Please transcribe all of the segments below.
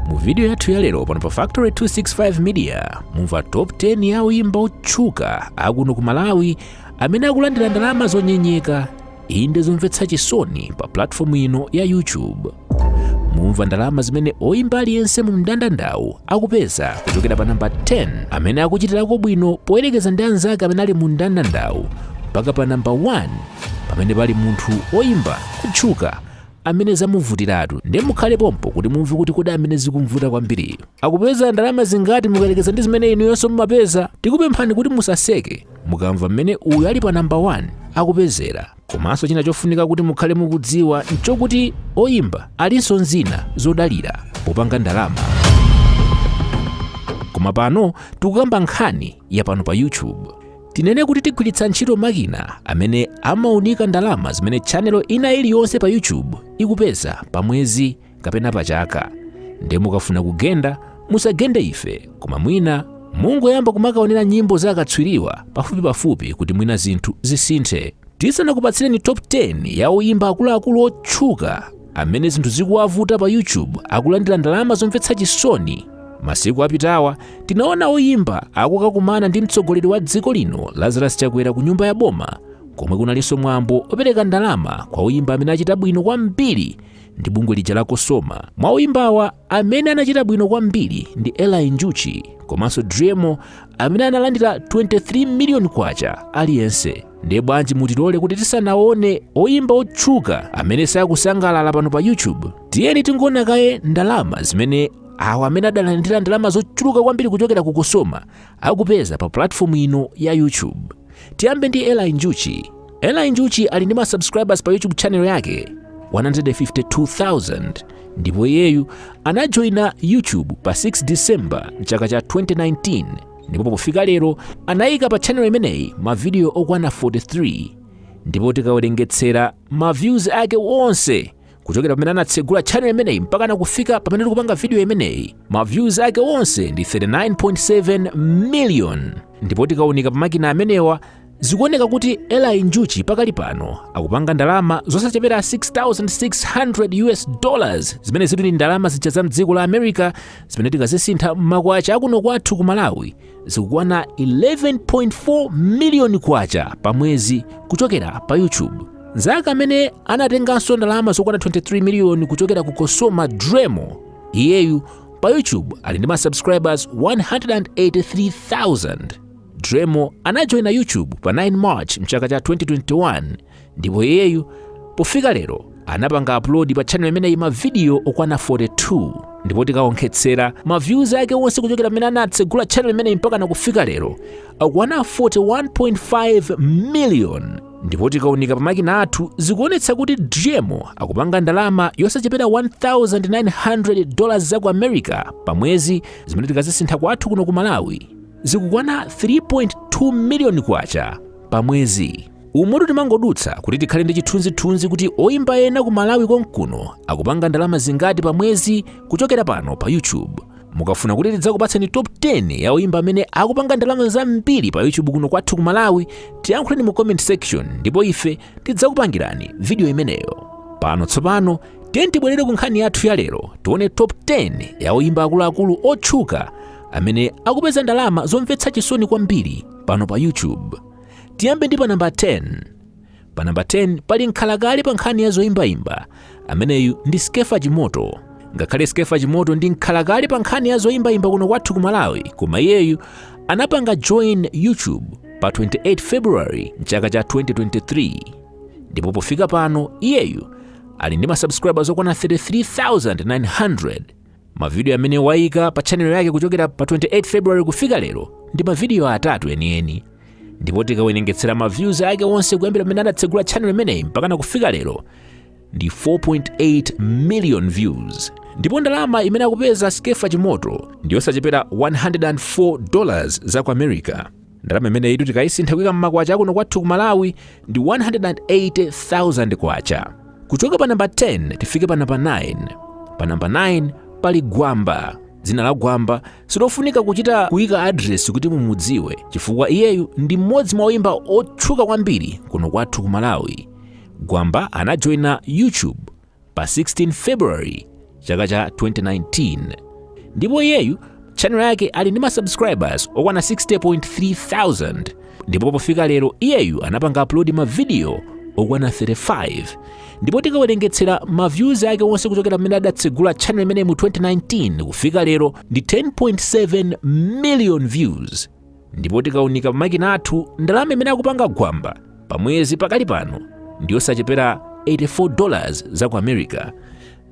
mu video yathu ya lero pano pa factory 265 media mumva top 10 ya oyimba otchuka akuno ku malawi amene akulandira ndalama zonyenyeka inde zomvetsa chisoni pa platform ino ya youtube mumva ndalama zimene oyimba aliyense mu mndandandawu akupeza kuchokera pa namba 10 amene akuchitirako bwino poyerekeza ndi anzake amene ali mu mndandandawu mpaka pa namba 1 pamene pali munthu oyimba otchuka amene zamuvutiratu nde mukhale pompo kuti mumve kuti kodi amene zikumvuta kwambiriyo akupeza ndalama zingati mukayerekeza ndi zimene inuyonso mumapeza tikupemphani kuti musaseke mukamva mmene uyu ali pa namba 1 akupezera komanso china chofunika kuti mukhale mukudziwa nchokuti oyimba alinso ndi zina zodalira popanga ndalama koma pano tikukamba nkhani ya pano pa youtube Tinene kuti tigwiritsa ntchito makina amene amaunika ndalama zimene channel ina iliyonse pa YouTube ikupeza pa mwezi kapena pa chaka. Ndiye mukafuna kugenda, musagende ife, koma mwina mungoyamba kumakaonera nyimbo za akatswiriwa pafupipafupi kuti mwina zinthu zisinthe. Tisanakupatsireni top 10 ya oyimba akuluakulu otchuka amene zinthu zikuwavuta pa YouTube akulandira ndalama zomvetsa chisoni. Masiku apitawa tinaona oyimba akukakumana ndi mtsogoleri wa dziko lino Lazarus Chakwera ku nyumba ya boma komwe kunalinso mwambo opereka ndalama kwa oyimba amene achita bwino kwambiri ndi bungwe lija la Cosoma. Mwa oyimbawa amene anachita bwino kwambiri ndi Eli Njuchi komanso Driemo amene analandira 23 miliyoni kwacha aliyense. ndiye bwanji mutilole kuti tisanaone oyimba otchuka amene sakusangalala pano pa youtube tiyeni tingoona kaye ndalama zimene awo amene adalandira ndalama zochuluka kwambiri kuchokera ku cosoma akupeza pa platform ino ya youtube tiyambe ndi eli njuchi eli njuchi ali ndi ma subscribers pa youtube channel yake 152,000 ndipo iyeyu anajoyina youtube pa 6 december mchaka cha 2019 ndipo pofika lero anayika pa channel imeneyi mavidiyo okwana 43 ndipo tikawerengetsera ma views ake onse kuchokera pamene anatsegula channel imeneyi mpaka nakufika pamene tikupanga video imeneyi ma views ake onse ndi 39.7 million ndipo tikaunika pa makina amenewa Zikuoneka kuti Eli Njuchi pakali pano akupanga ndalama zosachepera 6600 US dollars zimene zili ndi ndalama zija za mdziko la America zimene tikazisintha m'makwacha akuno kwathu ku Malawi zikukwana 11.4 miliyoni kwacha pa mwezi kuchokera pa YouTube. Nzake amene anatenganso ndalama zokwana 23 miliyoni kuchokera ku Cosoma Driemo iyeyu pa YouTube ali ndi ma subscribers 183,000. Driemo anajoyina YouTube pa 9 March mchaka cha 2021 ndipo iyeyu pofika lero anapanga upload pa channel imeneyi mavidiyo okwana 42 ndipo tikaonkhetsera ma views ake onse kuchokera pamene anatsegula channel imeneyi mpakana kufika lero akwana 41.5 million ndipo tikaunika pamakina athu zikuonetsa kuti Driemo akupanga ndalama yosachepera 1900 dollars za ku america pa mwezi zimene tikazisintha kwathu kuno ku malawi zikukwana 3.2 miliyoni kwacha pa mwezi umutu timangodutsa kuti tikhale ndi chithunzithunzi kuti oyimba ena ku malawi konkuno akupanga ndalama zingati pa mwezi kuchokera pano pa youtube mukafuna kuti tidzakupatseni top 10 ya oyimba amene akupanga ndalama zambiri pa youtube kuno kwathu ku malawi tiyankhuleni mu comment section ndipo ife tidzakupangirani vidiyo imeneyo pano tsopano tiyeni tibwerere ku nkhani yathu ya lero tione top 10 ya oyimba akuluakulu otchuka amene akupeza ndalama zomvetsa chisoni kwambiri pano pa YouTube. Tiyambe ndi pa namba 10. Pa namba 10 pali mkhalakale pa nkhani ya zoimbaimba ameneyu ndi Skefa Chimoto. Ngakhale Skefa Chimoto ndi mkhalakale pa nkhani ya zoimbaimba kuno kwathu ku Malawi, koma iyeyu anapanga join YouTube pa 28 February mchaka cha 2023 ndipo pofika pano iyeyu ali ndi masubscribers okwana 33,900 Mavidiyo amene waika pa chanelo yake kuchokera pa 28 February kufika lero ndi mavidiyo atatu enieni, ndipo tikawerengetsera ma views ake onse kuyambira pamene anatsegula chanelo imeneyi mpakana kufika lero ndi 4.8 million views ndipo ndalama imene akupeza Skefa Chimoto ndiyosachepera 104 dollars za ku America. ndalama imeneyitu tikayisintha kuika mmakwacha akuno kwathu ku malawi ndi 180,000 kwacha kuchoka pa namba 10 tifike pa namba 9 pa namba 9 pali gwamba dzina la gwamba silofunika kuchita kuika adresi kuti mumudziwe chifukwa iyeyu ndi mmodzi mwa oyimba otchuka kwambiri kuno kwathu ku malawi gwamba anajoyina youtube pa 16 february chaka cha 2019 ndipo iyeyu channel yake ali ndi masubscribers okwana 60.3 thousand ndipo pofika lero iyeyu anapanga upload mavidiyo okwana 35 ndipo tikawerengetsera maviews ake onse kuchokera pamene adatsegula channel imeneyi mu 2019 kufika lero ndi 10.7 million views ndipo tikaunika pa makina athu ndalama imene akupanga gwamba pa mwezi pakali pano ndiyosachepera 84 dollars za ku america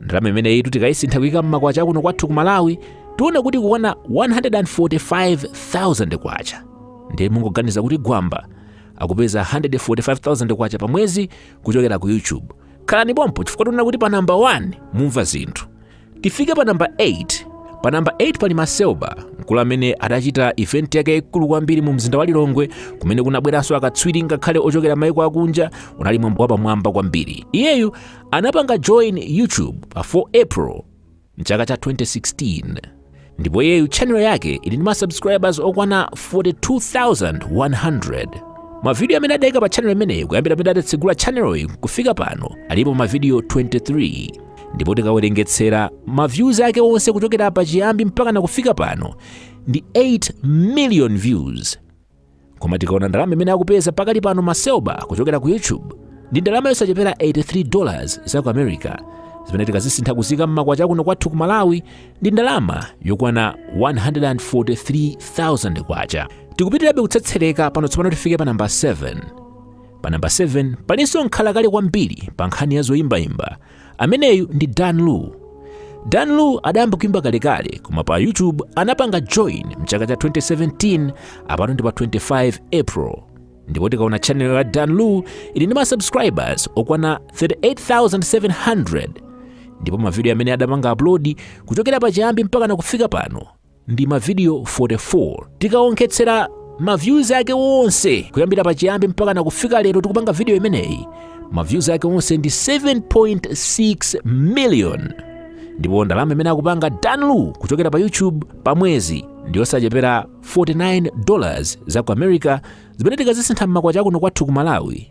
ndalama imeneyitu tikayisintha kuyika mmakwacha akuno kwathu ku malawi tiona kuti ikukwana 145,000 kwacha ndiye mungoganiza kuti gwamba akupeza 145,000 kwacha pa mwezi kuchokera ku youtube khalani pompo chifukwa tiona kuti pa namba 1 mumva zinthu tifike pa namba 8 pa namba 8 pali namaselba mkulu amene adachita event yake ikulu kwambiri mu mzinda wa lilongwe kumene kunabweranso akatswiri ngakhale ochokera maiko akunja unali mwambo wapamwamba kwambiri iyeyu anapanga join youtube pa 4 april mchaka cha 2016 ndipo iyeyu tchanelo yake ili ndi ma subscribers okwana 42100 mavidiyo amene adaika pa tchanelo imeneyi kuyambira pamene adatsegula tchaneloyi kufika pano alipo mavidiyo 23 ndipo tikawerengetsera maviews ake onse kuchokera pa chiyambi mpaka na kufika pano ndi 8 million views koma tikaona ndalama imene akupeza pakali pano maselba kuchokera ku youtube ndi ndalama yosachepera 83 dollars za ku america zimene tikazisintha kuziika mmakwacha akuno kwathu ku malawi ndi ndalama yokwana 143,000 kwacha tikupitirabe kutsetsereka pano tsopano tifike pa namba 7 pa namba 7 palinso mkhalakale kwambiri pa nkhani ya zoyimbayimba Ameneyu ndi Dan Lu. Dan Lu adayamba kuimba kalekale koma pa YouTube anapanga join mchaka cha 2017 apano ndi pa 25 April. Ndipo tikaona channel ya Dan Lu ili ndi ma subscribers okwana 38,700 ndipo mavidiyo amene adapanga upload kuchokera pachiyambi mpaka na kufika pano ndi mavidiyo 44 tikawonkhetsera maviews ake onse kuyambira pachiyambi mpaka na kufika lero tikupanga video imeneyi maviews ake onse ndi 7.6 million ndipo ndalama imene akupanga Dan Lu kuchokera pa YouTube pa mwezi ndiyosachepera 49 dollars za ku America zimene tikazisintha mmakwacha akuno kwathu ku Malawi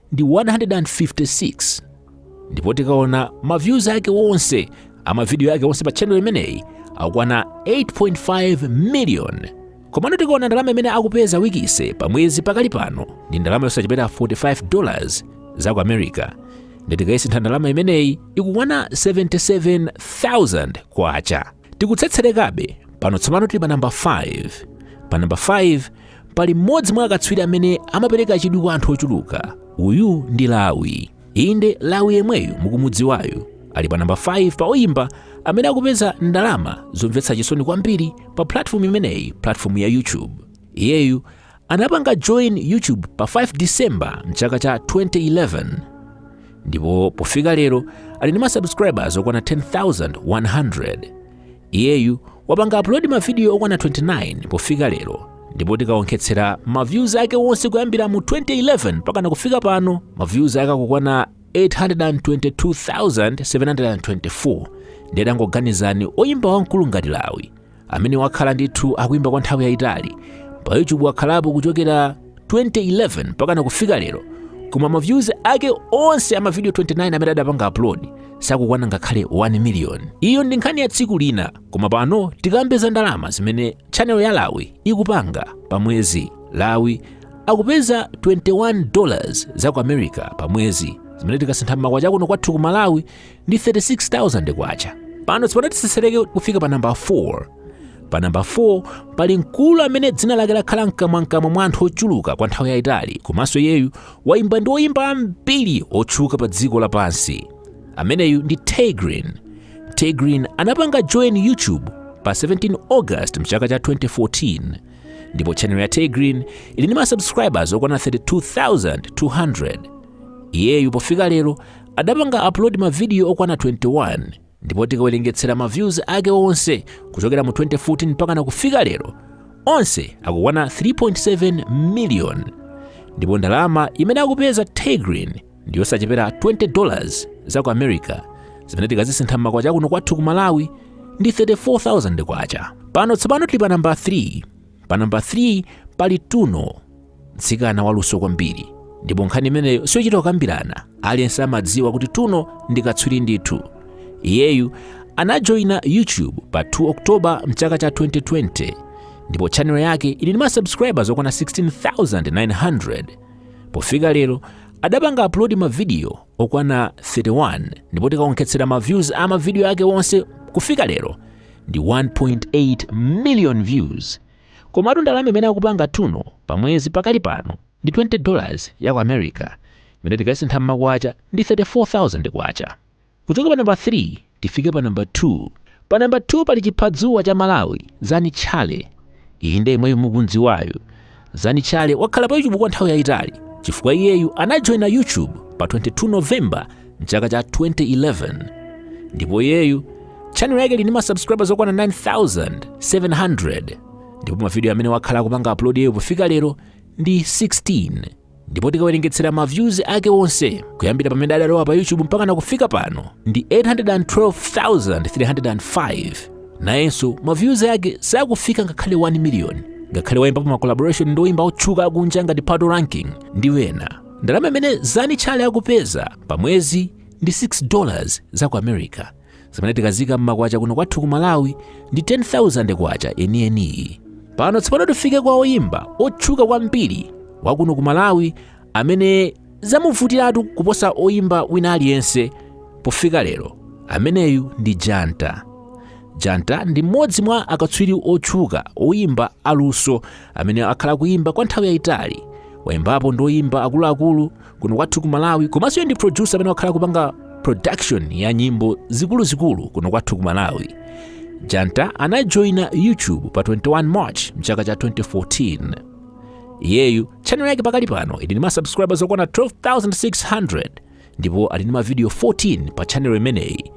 ndi 156 ndipo tikaona ma views ake onse amavidiyo ake onse pa channel imeneyi akukwana 8.5 million komano tikaona ndalama imene akupeza wikise pa mwezi pakali pano ndi ndalama yosachepera 45 dollars za ku america ndi tikayisintha ndalama imeneyi ikukwana 77000 kwacha tikutsetserekabe pano tsopano tili pa namba 5 pa namba 5 pali mmodzi mwa akatswiri amene amapereka chidwi kwa anthu ochuluka uyu ndi lawi inde lawi yemweyu mukumudziwayu ali pa namba 5 pa oyimba amene akupeza ndalama zomvetsa chisoni kwambiri pa platform imeneyi platform ya youtube iyeyu Anapanga join YouTube pa 5 December mchaka cha 2011 ndipo pofika lero ali ndi masubscribers okwana 10,100. Iyeyu wapanga upload mavidiyo okwana 29 pofika lero ndipo tikawonkhetsera maviews ake onse kuyambira mu 2011 mpaka na kufika pano maviews ake akukwana 822,724 ndiye tangoganizani oyimba wamkulu ngati lawi amene wakhala ndithu akuimba kwa nthawi yayitali pa youtube wakhalapo kuchokera 2011 mpakana kufika lero koma maviews ake onse amavidiyo 29 amene adapanga upload sakukwana ngakhale 1 million iyo ndi nkhani ya tsiku lina koma pano tikambe za ndalama zimene chanelo ya lawi ikupanga pa mwezi lawi akupeza 21 dollars za ku america pa mwezi zimene tikasintha mmakwacha kuno kwathu ku malawi ndi 36,000 kwacha. Pano tsopano tisesereke kufika pa namba 4. Pa namba 4 pali mkulu amene dzina lake lakhala mkamwamkamwa mwa anthu ochuluka kwa nthawi yayitali komanso iyeyu wayimba ndi oyimba ambiri otchuka pa dziko lapansi. Ameneyu ndi Tay Grin. Tay Grin anapanga join YouTube pa 17 August mchaka cha 2014 ndipo channel ya Tay Grin ili ndi ma subscribers okwana 32,200. Iyeyu pofika lero adapanga upload mavidiyo okwana 21 ndipo tikawerengetsera ma views ake onse kuchokera mu 2014 mpakana kufika lero onse akukwana 3.7 million ndipo ndalama imene akupeza Tay Grin ndi yosachepera 20 dollars za ku America zimene tikazisintha m'makwacha kuno kwathu ku Malawi ndi 34,000 kwacha pano tsopano tili pa namba 3 pa namba 3 pali tuno mtsikana waluso kwambiri ndipo nkhani imeneyo siyochita kukambirana aliyense amadziwa kuti tuno ndi katswiri ndithu iyeyu anajoyina youtube pa 2 oktoba mchaka cha 2020 ndipo chanelo yake ili ndi masubscribers okwana 16900 pofika lero adapanga upload mavidiyo okwana 31 ndipo tikaonkhetsera maviews a mavidiyo ake onse kufika lero ndi 1.8 million views komatu ndalama imene akupanga tuno pa mwezi pakali pano ndi 20 dollars ya ku america imene tikasintha mmakwacha ndi 34000 kwacha kuchoka pa namba 3 tifike pa namba 2 pa namba 2 pali chiphadzuwa cha malawi zani challe Inde yemweyo mukumdziwayu Zani Challe wakhala pa YouTube kwa nthawi yayitali chifukwa iyeyu anajoina YouTube pa 22 November mchaka cha 2011 ndipo iyeyu channel yake ili ndi masubscribers okwana 9700 ndipo mavidiyo amene wakhala akupanga upload iyeyo pofika lero ndi 16 ndipo tikawerengetsera ma views ake onse kuyambira pamene adalowa pa youtube mpakana kufika pano ndi 812305 nayenso ma views ake sakufika ngakhale 1 million ngakhale waimbapo ma collaboration ndi oyimba otchuka akunja ngati patoranking ndi wena ndalama imene zani challe akupeza pa mwezi ndi 6 dollars za ku america zimene tikaziika mmakwacha kuno kwathu ku malawi ndi 10000 kwacha enieniyi pano tsopano tifike kwa oyimba otchuka kwambiri wakuno ku malawi amene zamuvutiratu kuposa oyimba wina aliyense pofika lero ameneyu ndi janta janta ndi mmodzi mwa akatswiri otchuka oyimba aluso amene akhala kuyimba kwa nthawi yayitali wayimbapo ndi oyimba akuluakulu kuno kwathu ku malawi komanso iye ndi producer amene wakhala kupanga production ya nyimbo zikuluzikulu kuno kwathu ku malawi janta anajoina youtube pa 21 march mchaka cha 2014 iyeyu channel yake pakali pano ili ndi masubscribers okwana 12600 ndipo ali ndi mavidiyo 14 pa channel imeneyi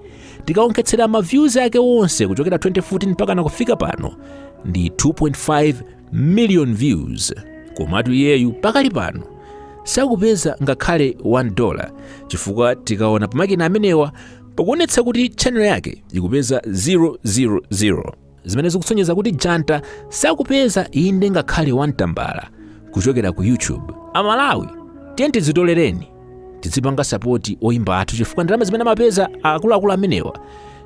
tikaonkhetsera maviews ake onse kuchokera 2014 mpaka nakufika pano ndi 2.5 million views komatu iyeyu pakali pano sakupeza ngakhale 1 dollar chifukwa tikaona pamakina amenewa pakuonetsa kuti channel yake ikupeza 000 zimene zikusonyeza kuti janta sakupeza inde ngakhale 1 tambala kuchokera ku youtube amalawi tiye tizitolereni tizipanga sapoti oyimba athu chifukwa ndalama zimene amapeza akuluakulu amenewa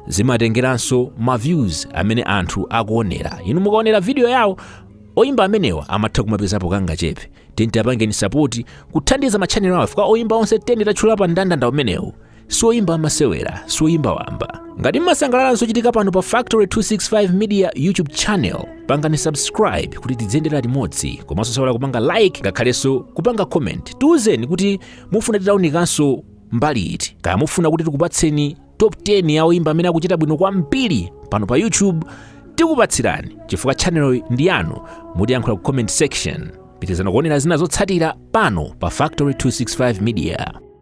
zimatengeranso ma views amene anthu akuonera inu mukaonera video yawo oyimba amenewa amatha kumapezapo kangachepe tiye tiapangeni sapoti kuthandiza matchanelo awo chifukwa oyimba onse teni tatchula pa mndandanda umenewu si oyimba amasewera si oyimba wamba ngati mmasangalala nzochitika pano pa factory 265 media youtube channel pangani subscribe kuti tidziyendera limodzi komanso musaiwale kupanga like ngakhalenso kupanga comment tiwuzeni kuti mufuna titaunikanso mbali iti kaya mufuna kuti tikupatseni top 10 ya oyimba amene akuchita bwino kwambiri pano pa youtube tikupatsirani chifukwa channeloyi ndi yanu mutiyankhula ku comment section pitirizani kuonera zina zotsatira pano pa factory 265 media